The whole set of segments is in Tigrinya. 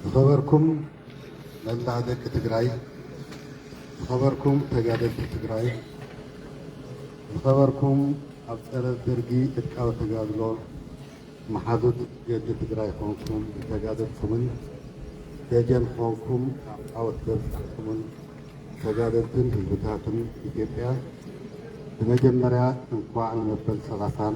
ዝኸበርኩም መላእ ደቂ ትግራይ፣ ዝኸበርኩም ተጋደልቲ ትግራይ፣ ዝኸበርኩም ኣብ ፀረ ደርጊ ዕጥቃዊ ተጋድሎ መሓዙት ገድሊ ትግራይ ኾንኩም ዝተጋደልኩምን ደጀን ኾንኩም ኣብ ዓወት ዘብፃሕኩምን ተጋደልትን ህዝብታትን ኢትዮጵያ ብመጀመርያ እንኳዕ ንመበል ሰላሳን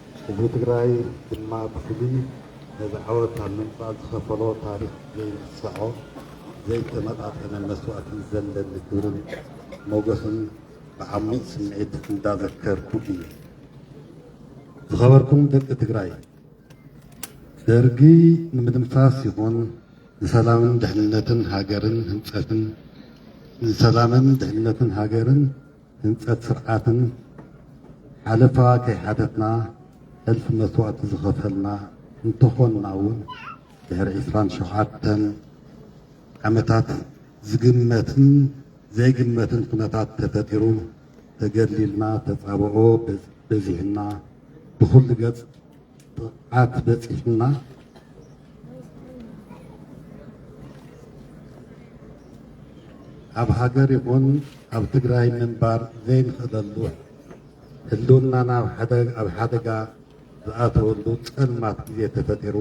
ህዝቢ ትግራይ ድማ ብፍሉይ ነዚ ዓወት ኣብ ምምፃእ ዝኸፈሎ ታሪኽ ዘይንስዖ ዘይተመጣጠነ መስዋእቲ ዘለኒ ክብርን ሞገስን ብዓሚቕ ስምዒት እንዳዘከርኩ እየ። ዝኸበርኩም ደቂ ትግራይ ደርጊ ንምድምሳስ ይኹን ንሰላምን ድሕንነትን ሃገርን ህንፀትን ንሰላምን ድሕንነትን ሃገርን ህንፀት ስርዓትን ሓለፋ ከይሓተትና ሕልፊ መስዋእቲ ዝኸፈልና እንተኾንና እውን ድሕሪ ዕስራን ሸውዓተን ዓመታት ዝግመትን ዘይግመትን ኩነታት ተፈጢሩ ተገድሊልና ተፃብኦ በዚሕና ብኹሉ ገፅ ጥቕዓት በፂሑና ኣብ ሃገር ይኹን ኣብ ትግራይ ምንባር ዘይንኽእለሉ ህልውናና ኣብ ሓደጋ ዝኣተወሉ ፀልማት ግዜ ተፈጢሩ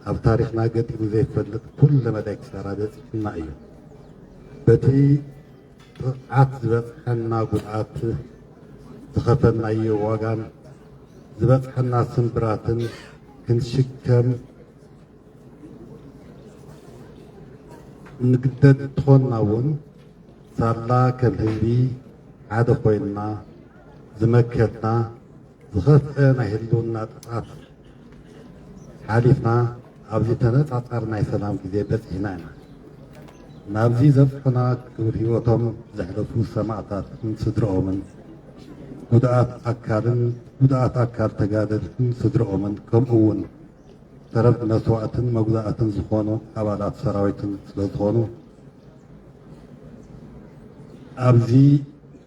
ኣብ ታሪኽና ገጢሙ ዘይፈልጥ ኩለ መዳይ ክሳራ በፂሑና እዩ በቲ ጥቕዓት ዝበፅሐና ጉድኣት፣ ዝኸፈልናዮ ዋጋን ዝበፅሐና ስምብራትን ክንሽከም እንግደድ እንተኾንና እውን ሳላ ከም ህዝቢ ሓደ ኮይንና ዝመከትና ዝኸፍኤ ናይ ህልውና ጥፍኣት ሓሊፍና ኣብዚ ተነፃፃሪ ናይ ሰላም ግዜ በፂሕና ኢና። ናብዚ ዘብፁሑና ክብር ህይወቶም ዘሕለፉ ሰማእታትን ስድርኦምን፣ ጉድኣት ኣካልን ጉድኣት ኣካል ተጋደልትን ስድርኦምን ከምኡ እውን ተረፍ መስዋእትን መጉዳእትን ዝኾኑ ኣባላት ሰራዊትን ስለዝኾኑ ኣብዚ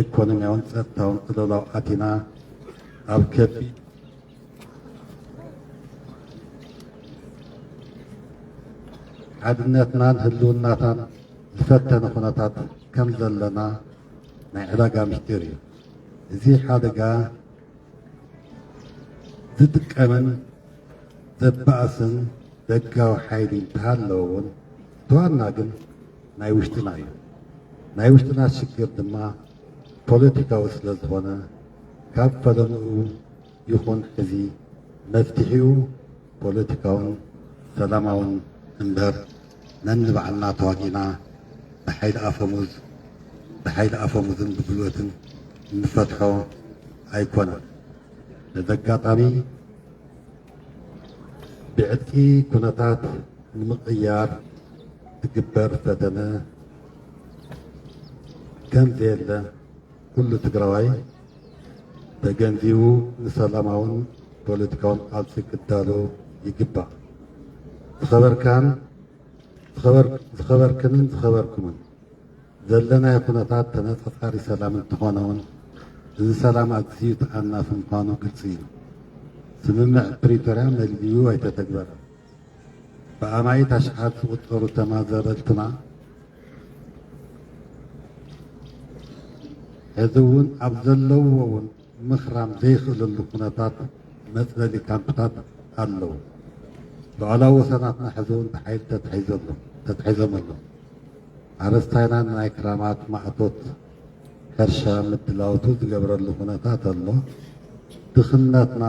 ኤኮኖሚያውን ጸጥታውን ቅልውላው ኣቲና ኣብ ከቢድ ሓድነትናን ህልውናታን ዝፈተነ ኩነታት ከም ዘለና ናይ ዕዳጋ ምስጢር እዩ እዚ ሓደጋ ዝጥቀምን ዘባእስን ደጋዊ ሓይሊ እንተሃለወ እውን ተዋና ግን ናይ ውሽጥና እዩ። ናይ ውሽጥና ሽግር ድማ ፖለቲካዊ ስለ ዝኾነ ካብ ፈለምኡ ይኹን ሕዚ መፍትሒኡ ፖለቲካውን ሰላማውን እምበር ነንባዕልና ተዋጊእና ብሓይሊ ኣፈሙዝ ብሓይሊ ኣፈሙዝን ብጉልበትን እንፈትሖ ኣይኮነን። በዚ ኣጋጣሚ ብዕጥቂ ኩነታት ንምቕያር ዝግበር ፈተነ ከም ዘየለ ኩሉ ትግራዋይ ተገንዚቡ ንሰላማውን ፖለቲካውን ቃልሲ ክዳሎ ይግባእ። ዝኸበርካን ዝኸበርክንን ዝኸበርኩምን ዘለናዮ ኩነታት ተነፃፃሪ ሰላም እንተኾነ ውን እዚ ሰላም ኣዝዩ ተኣናፊ ምዃኑ ግልፂ እዩ። ስምምዕ ፕሪቶርያ መሊኡ ኣይተተግበረን። ብኣማኢት ኣሽሓት ዝቑፀሩ ተመዛበልትና ሕዚ ውን ኣብ ዘለውዎ ውን ምኽራም ዘይኽእለሉ ኩነታት መፅለሊ ካምፕታት ኣለው። ልዑላዊ ወሰናትና ሕዚ እውን ብሓይሊ ተታሒዙ ኣሎ ተታሒዞም ኣሎ። ሓረስታይና ንናይ ክራማት ማእቶት ሕርሻ ምድላውቱ ዝገብረሉ ኩነታት ኣሎ። ድኽነትና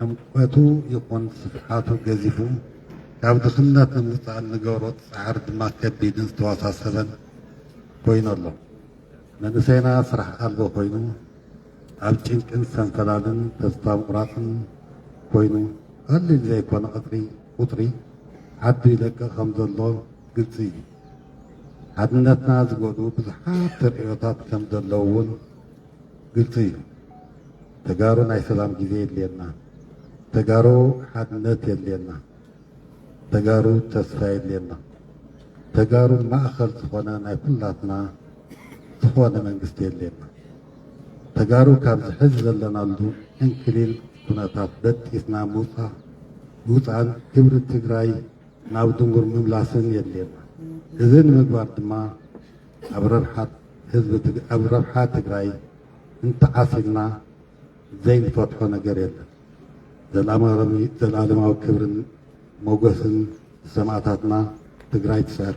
ዕምቆቱ ይኹን ስፍሓቱ ገዚፉ ካብ ድኽነት ንምውፃእ እንገብሮ ፃዕሪ ድማ ከቢድን ዝተወሳሰበን ኮይኑ ኣሎ። መንእሰይና ስራሕ ኣልቦ ኮይኑ ኣብ ጭንቅን ሰንፈላልን ተስፋ ምቑራጽን ኮይኑ ቐሊል ዘይኮነ ቕጥሪ ቑጥሪ ዓዱ ይለቅቕ ከም ዘሎ ግልጺ እዩ። ሓድነትና ዝጎድኡ ብዙሓት ተርእዮታት ከም ዘለዉ እውን ግልጺ እዩ። ተጋሩ ናይ ሰላም ግዜ የድልየና። ተጋሩ ሓድነት የድልየና። ተጋሩ ተስፋ የድልየና ተጋሩ ማእኸል ዝኾነ ናይ ኩላትና ዝኾነ መንግስቲ የድልየና ተጋሩ ካብዚ ሕዚ ዘለናሉ ዕንክሊል ኩነታት በጢስና ምውፃእ ምውፃእን ክብሪ ትግራይ ናብ ድንጉር ምምላስን የድልየና እዚ ንምግባር ድማ ኣብ ረብሓ ህዝቢ ኣብ ረብሓ ትግራይ እንተዓሲልና ዘይንፈትሖ ነገር የለን ዘልኣለማዊ ክብርን ሞጎስን ንሰማእታትና ትግራይ ትስዕር።